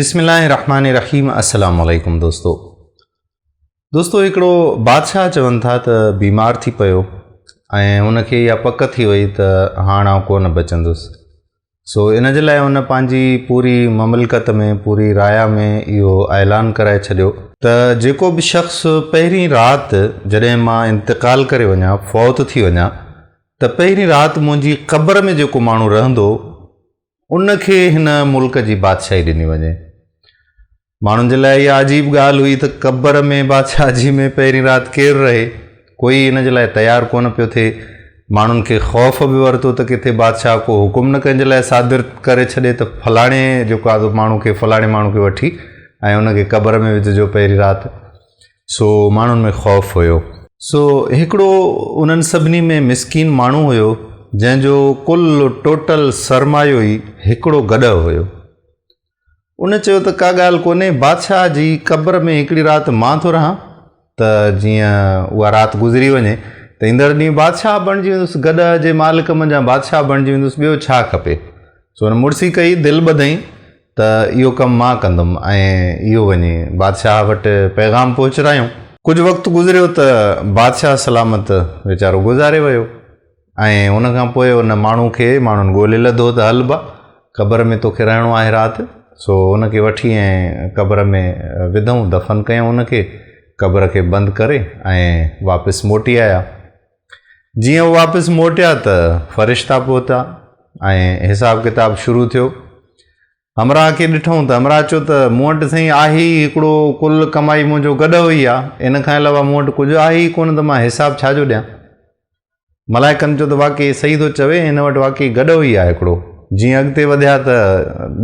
بسم الله الرحمن الرحيم السلام عليكم دوستو دوستو هڪڙو بادشاهه چون ٿا ته بيمار ٿي پيو ۽ ان کي اها پڪ ٿي وئي ته هاڻ آئون ڪو نه بچندس سو ان جي لاء ان پنهنجي پوري مملڪت ۾ پوري رايا ۾ اهو اعلان ڪرائي ڇڏيو ته جيڪو به شخص پهرين رات جڏهن مان انتقال ڪري وڃان فوت ٿي وڃان ته پهرين رات منهنجي قبر ۾ جيڪو ماڻهو رهندو ان کي هن ملڪ جي بادشاهي ڏني وڃي. ماڻهن جي لاء اها عجيب ڳالهه هئي ته قبر ۾ بادشاهجي ۾ پهرين رات ڪير رهي. ڪوئي ان جي لاء تيار ڪونه پيو ٿئي. ماڻهن کي خوف به ورتو ته ڪٿي بادشاهه ڪو حڪم نه ڪنهن جي لاء صادر ڪري ڇڏي ته فلاڻي جو ڪا ماڻهو کي فلاڻي ماڻهو کي وٺي ۽ ان کي قبر ۾ وجهجو پهرين رات. سو ماڻهن ۾ خوف هيو. سو هڪڙو انهن سڀني ۾ مسڪين ماڻهو هيو جنهن جو ڪل ٽوٽل سرمايو ئي هڪڙو گڏهه هيو. ان چيو ته ڪا ڳالهه ڪونهي بادشاهه جي قبر ۾ هڪڙي رات مان ٿو رهان ته جيئن اها رات گذري وڃي ته ايندڙ ڏينهن بادشاهه بڻجي ويندس گڏهه جي مالڪ منجهان بادشاهه بڻجي ويندس ٻيو ڇا کپي. سو هن مڙسي ڪئي دل ٻڌئين ته اهو ڪم مان ڪندم ۽ اهو وڃي بادشاهه وٽ پيغام پهچرايائون. ڪجهه وقت گذريو ته بادشاهه سلامت ويچارو گذاري ويو ۽ ان کان پوء ان ماڻهو کي ماڻهن ڳولي لڌو ته هل با، قبر ۾ توکي رهڻو آهي رات. سو ان کي وٺي ۽ قبر ۾ وڌئون، دفن ڪيائون ان کي، قبر کي بند ڪري ۽ واپس موٽي آيا. جيئن هو واپس موٽيا ته فرشتا پهتا ۽ حساب ڪتاب شروع ٿيو. همراهه کي ڏٺئون ته همراهه چيو ته مون وٽ سائين آهي ئي هڪڙو ڪل ڪمائي منهنجو گڏهو ئي آ ان کان علاوه مون وٽ ڪجهه آهي ئي ڪونه ته مان حساب ڇا جو ڏيان. ملائڪن چيو ته واقعي صحيح ٿو چوي هن وٽ واقعي گڏهو ئي آ هڪڙو. جيئن اڳتي وڌيا ته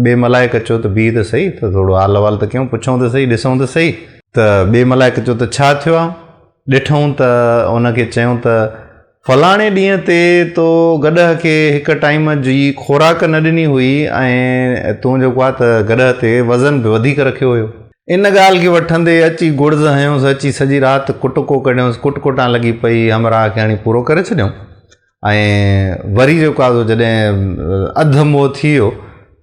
ٻئي ملائڪ چيو ته بيهه ته سهي ته ٿورو حال احوال ته ڪيون پڇئون ته سهي ڏسئون ته سهي. ته ٻئي ملائڪ چيو ته ڇا ٿيو آ ڏٺئون ته ان کي چيئون ته فلاڻي ڏينهن تي تو گڏهه کي هڪ ٽائيم جي خوراڪ نه ڏني هئي ۽ تون جيڪو آ ته گڏهه تي وزن به وڌيڪ رکيو هيو. ان ڳالهه کي وٺندي اچي گڙز هنيوس، اچي سڄي رات ڪٽڪو ڪڍيوس، ڪٽڪوٽان لڳي پئي، همراهه کي هڻي پورو ڪري ڇڏيئون. ۽ وري جيڪو آزو جڏهن اڌ موء ٿي ويو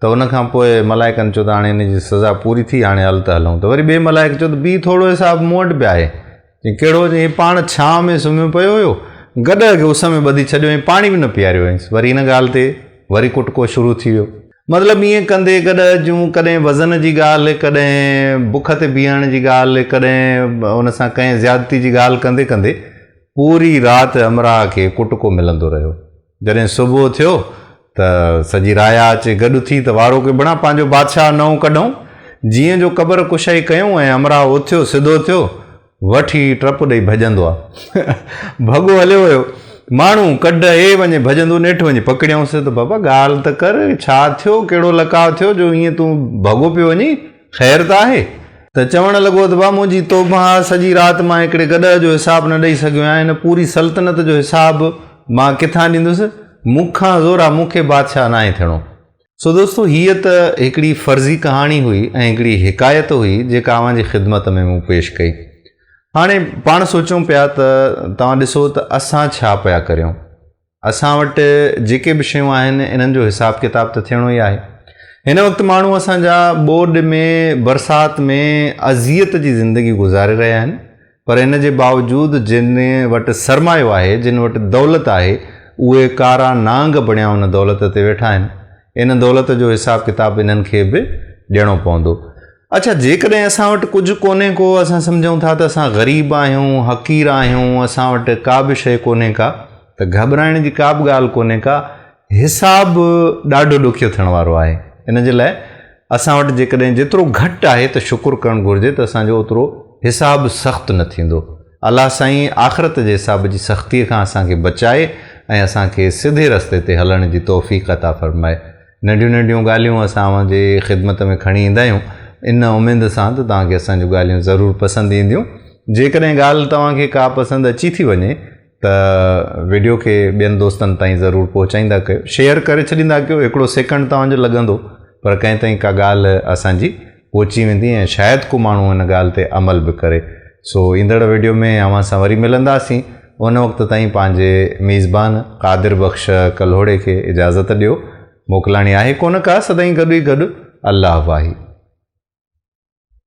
ته ان کان پوء ملائڪن چيو ته هاڻي هن جي سزا پوري ٿي هاڻي هل ته هلون ته وري ٻئي ملائڪ چيو ته بيهه ٿورڙو حساب مون وٽ به آهي چيائين ڪهڙو چيائين هي پاڻ ڇانء ۾ سمهيو پيو هيو گڏهه کي اس ۾ ٻڌي ڇڏيو ۽ پاڻي به نه پياريو هئينس وري ان ڳالهه تي وري ڪٽڪو شروع ٿي ويو. مطلب ائين ڪندي گڏهه جون ڪڏهن وزن جي ڳالهه ڪڏهن بک تي بيهڻ جي ڳالهه ڪڏهن ان سان ڪنهن زيادتي جي ڳالهه ڪندي ڪندي پوري رات همراهه کي ڪٽڪو ملندو رهيو. جڏهن صبح ٿيو ته سڄي رايا اچي گڏ ٿي ته وارو ڪي بڻا پنهنجو بادشاهه نئون ڪڍئون. جيئن جو قبر ڪشائي ڪيئون ۽ همراهه اٿيو سڌو ٿيو، وٺي ٽپ ڏئي ڀڄندو آ. ڀڳو هليو ويو. ماڻهو ڪڍ اي وڃي ڀڄندو نيٺ وڃي پڪڙيائونس ته بابا ڳالهه ته ڪر ڇا ٿيو ڪهڙو لڪاء ٿيو جو ائين تون ڀڳو پيو وڃين. خير ته آهي؟ ته چوڻ لڳو ته ڀاء منهنجي توبه آهي، سڄي رات مان هڪڙي گڏهه جو حساب نه ڏئي سگهيو آهيان، هن پوري سلطنت جو حساب مان ڪٿان ڏيندس، مون کان زورا مون کي بادشاهه ناهي ٿيڻو. سو دوستو هيء ته هڪڙي فرضي ڪهاڻي هئي ۽ هڪڙي حڪايت هئي جيڪا اوهان جي خدمت ۾ مون پيش ڪئي. هاڻي پاڻ سوچيون پيا ته توهان ڏسو ته اسان ڇا پيا ڪريون؟ اسان وٽ جيڪي به شيون آهن انهن جو حساب ڪتاب ته ٿيڻو ئي آهي. هن وقت ماڻهو اسان جا ٻوڏ ۾ برسات ۾ اذيت جي زندگي گذاري رهيا آهن پر ان جي باوجود جن وٽ سرمايو آهي جن وٽ دولت آهي اهي ڪارا نانگ بڻيا ان دولت تي ويٺا آهن ان دولت جو حساب ڪتاب انهن کي به ڏيڻو پوندو. اڇا جيڪڏهن اسان وٽ ڪجهه ڪونهي ڪو اسان سمجهون ٿا ته اسان غريب آهيون، حقير آهيون، اسان وٽ ڪا به شيء ڪونهي ڪا ته گهٻرائڻ جي ڪا به ڳالهه ڪونهي ڪا حساب ڏاڍو ڏکيو ٿيڻ وارو آهي ان جي لاء اسان وٽ جيڪڏهن جيترو گهٽ آهي ته شڪر ڪرڻ گهرجي ته اسان جو اوترو حساب سخت نه ٿيندو. الله سائين آخرت جي حساب جي سختيء کان اسان کي بچائي ۽ اسان کي سڌي رستي تي هلڻ جي توفيق عطا فرمائي. ننڍيون ننڍيون ڳالهيون اسان اوهان جي خدمت ۾ کڻي ايندا آهيون ان اميد سان ته توهان کي اسان جون ڳالهيون ضرور پسند اينديون. جيڪڏهن ڳالهه توهان کي ڪا پسند اچي ٿي وڃي ته وڊيو کي ٻين دوستن تائين ضرور پهچائيندا ڪيو. شيئر ڪري ڇڏيندا ڪيو. هڪڙو سيڪنڊ توهان جو لڳندو پر ڪنهن تائين ڪا ڳالهه اسان جي پهچي ويندي ۽ شايد ڪو ماڻهو ان ڳالهه تي عمل به ڪري سو ايندڙ ويڊيو ۾ اوهان سان وري ملنداسين ان وقت تائين پنهنجي ميزبان قادر بخش ڪلهوڙي کي اجازت ڏيو موڪلاڻي آهي ڪونه ڪا سدائين گڏ ئي گڏ الله واهي.